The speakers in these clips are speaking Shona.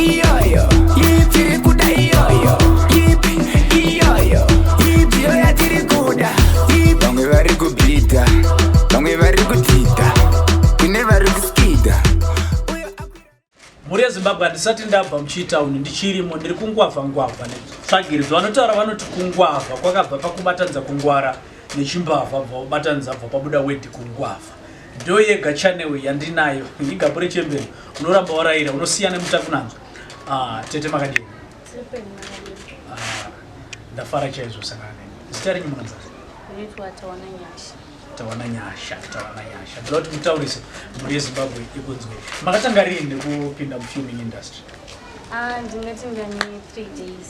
iyoyo yitiri kuda iyoyo yipi iyoyo yibiyo yatiri kuda vamwe vari kubhidha vamwe vari kudhidha kune vari kuskidha mhuri yezimbabwe handisati ndabva muchitown ndichirimo ndiri kungwavha ngwavha netsvagirizwa vanotaura vanoti kungwavha kwakabva pakubatanidza kungwara nechimbavha bva ubatanidza bva pabuda wedhi kungwavha Ndo yega channel yandinayo igapure chembere unoramba waraira unosiya nemutakunanzwa ah, tete makadini ah, ndafara chaizvo sakane zita renyu munonzaa tawana nyasha tawana nyasha ndoda kuti mutaurise mhuri yezimbabwe ikunzwe makatanga rini nekupinda mufilming industry ah, ndingatingani three days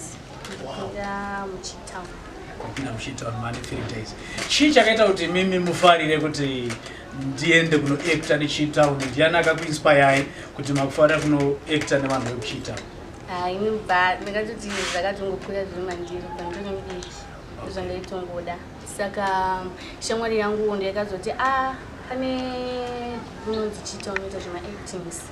chii chakaita kuti mimi mufarire kuti ndiende kunoacta nechitown ndiani akakuinspayai kuti makufarira kunoacta nevanhu vekuchitown ah, ini ba ndakatoti zvakatongokura zviri mandiri pandonodiki zvandaitongoda saka shamwari yangu ndiyakazoti a ah, pane unonzi chitown ita zvemaactings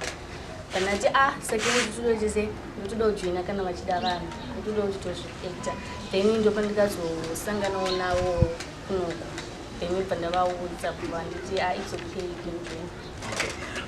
kana ti a ah, sekeni tudo tese ndotoda kujoina kana vachida vanhu ndotoda kuti tozviekta then ndopa ndikazosanganawo navo kunoku then ibva ndavaudza kuva nditi a ah, its okay kenjoin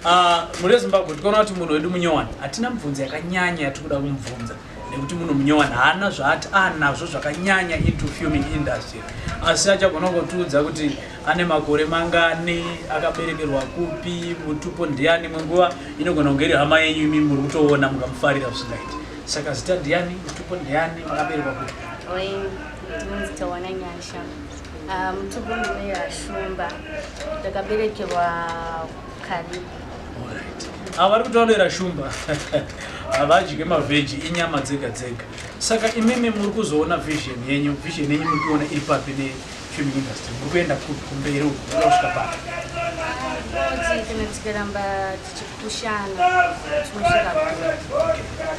ah, muri wezimbabwe tikaona kuti munhu wedu munyowani hatina mibvunzo yakanyanya yatiri kuda kumubvunza nekuti munhu munyowani haana zvaati anazvo zvakanyanya into fuming industry asi achagona kungotiudza kuti ane makore mangani akaberekerwa kupi mutupo ndiani imwe nguva inogona kunge iri hama yenyu imi muri kutoona mukamufarira zvisingaiti saka zita ndiani mutupo ndiani makaberekwa kupi ah, mutupo ndineashumba ndakaberekerwa karibu ava vari kutaurira shumba havadye mavheji inyama dzega dzega saka imimi muri kuzoona vision yenyu vision yenyu muri kuona iri papi nei film industry muri kuenda kupi kumberi uku muri kusvika papi Ngozi kana tikaramba tichipushana tinosvika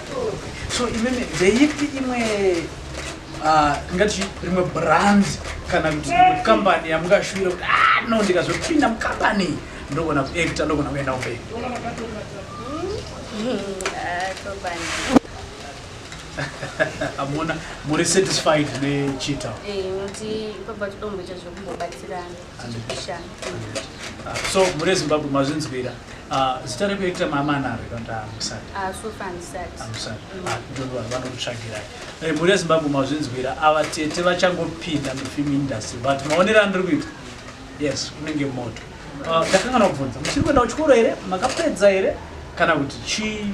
kure. so imene ndeipi imwe ah, tingati rimwe brand kana kuti imwe kambani yamungashuvira kuti "Ah, no ndikazopinda mukambani iyi, ndogona kuekta ndogona kuenda kumberi Mm, ah, topanda. amona muri satisfied nechita eh, noti pabva tidomboita zvekumbobatsirana tichipishana ah, so muri zimbabwe mazvinzwira ah, zita rekuekita mamanaro ikandamusati ah, vanokutsvagirai eh, muri yezimbabwe mazvinzwira ava tete vachangopinda mufilm industry but maonero andiri kuita yes unenge moto ndakangana kubvunza muchiri kuenda kuchikoro here makapedza here kana kuti chii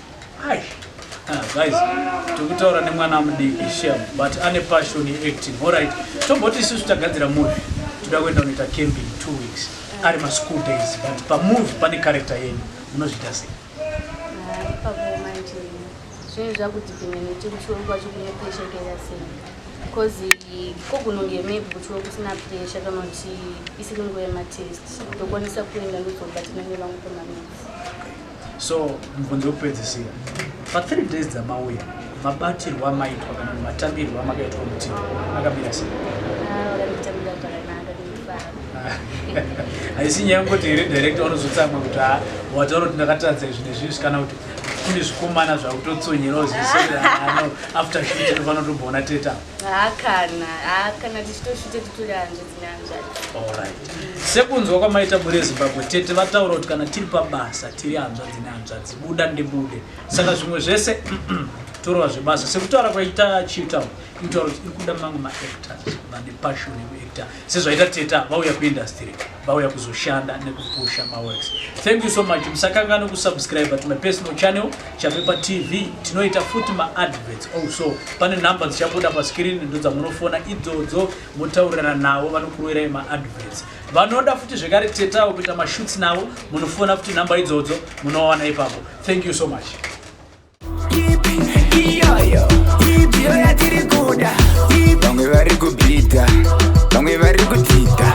Ai. Ah, guys, tikutaura nemwana amudiki shem but ane passion yeacting alright tomboti isusu tagadzira movie toda kuenda kunoita camping two weeks ari maschool days but pamovie pane character yenyu munozviita sei zvinhu zvakuti pimwe nekuti kuchiwo kwacho kune pressure ikaita sei because kogunonge maybe kuchiwo kusina pressure kana kuti isiri nguva yematest ndokwanisa kuenda ndozobatinane vangu pamaminsi so mubvunzo wekupedzisira pathree days dzamauya mabatirwo amaitwa kana matambirwo amakaitwa kuti akamira sei haisi nyaya yekuti here director unozotsamwa kuti ha wataura kuti ndakatadza izvi nezvizvi kana kuti kune zvikomana zvakutotsonyera uzivisoano after shit ndofana tobona teta hakana hakana tichitoshute titori hanzvi sekunzwa kwamaita bure zimbabwe tete vataura kuti kana tiri pabasa tiri hanzvadzi nehanzvadzi buda ndibude saka zvimwe zvese torova zvebasa sekutaura kwaita chitown inotaura kuti iri kuda mamwe maactors vane passion yekuactor sezvaita teta vauya kuindustry vauya kuzoshanda nekupusha maworks thank you so much musakangane kusubscribe to my personal channel chapepa tv tinoita futi maadverts also pane number dzichabuda pascreen ndo dzamunofona idzodzo motaurirana navo vanokuroirai maadverts vanoda futi zvekare teta avo kuita mashoots navo munofona futi nhamba idzodzo munowana ipapo thank you so much iyoyo ibyo yatiri kuda vamwe vari kubhidha vamwe vari kutida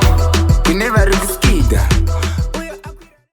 kune vari kuskida